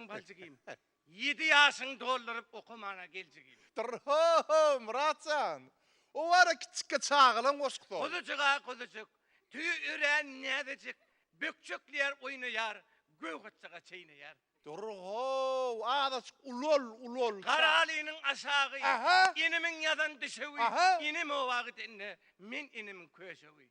Ýaşaň baljygym. Ýedi ýaşyňy dolduryp okamana geljigim. Dyrr-ho-ho, Myrat jan! O wara kiçikki çagalaň goşgusy ol. Guzujyk-a guzujyk, tüýi örän näzejik, bökjekleýär, oýnaýar, göwhatjyga çeýneýär. Dyrr-how, azajyk ulal, ulal. Garalynyň aşagy, inimiň ýazan düşewi, inim oba gidende, men inimiň köşewi.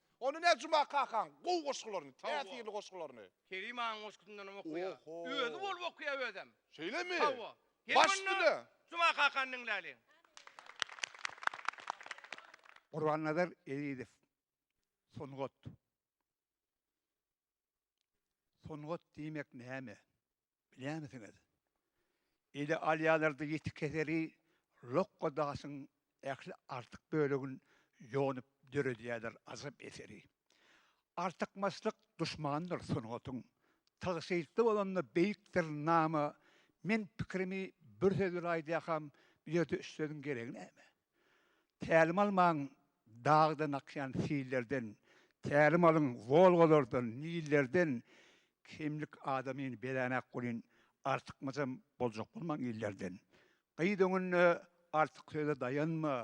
Ony ne Juma kakaň gowy goşgularyny, täsirli goşgularyny. Kerim agaň goşgusyndanam okaýa. Özi bolup okaýa özem. Şeýlemi? Hawa. Baş dile. Juma kakany diňläliň. Gurbannazar Ezizow sungat. Sungat diýmek näme? Bilýärmisiňiz? Ele alýarlardy ýiti keseli lokga daşyň ähli artyk bölegin ýonup döredýärler ajap eseri. Artykmaçlyk duşmandyr sungatyň. Tygşytly bolanda beýikdir nama. Men pikirimi bir söz bilen aýdýakam, bu ýerde üç sözüň geregi näme? Tälim almaň dagdan akýan sillerden, Tälim alyň Wolgalardan, Nillerden, Kemlik adamyn beränak bolyn, Artykmajam boljak bolmaň illerden. Gyz öňünde artyk söze daýanma,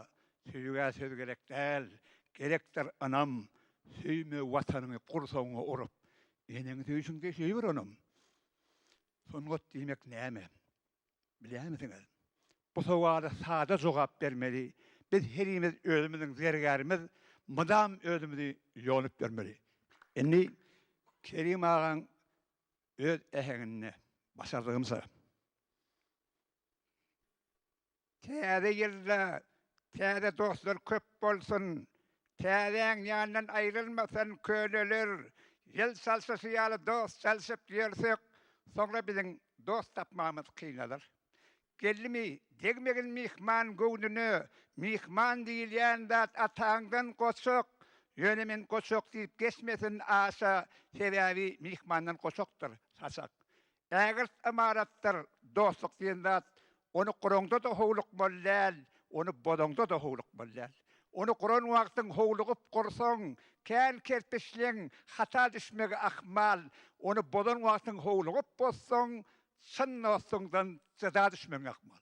Söýgä söz gerek däl, gerekdir ynam, Söýme Watanyňy gursagyňa urup, Eneňi söýşüňde söýgür onam. Sungat diýmek näme? Bilýärmisiňiz? Bu sowala sada jogap bermeli, biz herimiz özümiziň zergärimiz, mydam özümizi ýonup ýörmeli. Indi Kerim agaň öz äheňinde, başardygymça. Täze ýylda täze dostlar köp bolsun! Täzäň ýanyndan aýrylmasyn köneler! Ýyl çalşyşy ýaly dost çalşyp ýörsek, soňra biziň dost tapmagymyz kynalar. Gelnimi, degmegin myhman göwnüne, myhman diýilýän zat ataňdan goçak, ýöne men goçak diýip geçmesin aşa, sebäbi myhmandan goçakdyr saçak. Ägirt ymaratdyr, dostluk diýen zat, ony guraňda-da howlukmaly däl, ony bozaňda-da howlukmaly däl. Ony guran wagtyň howlugyp gursaň, kän kerpiçliň hata düşmegi ahmal, ony bozan wagtyň howlugyp bozsaň, çyn dostuňdan jyda düşmegiň ahmal.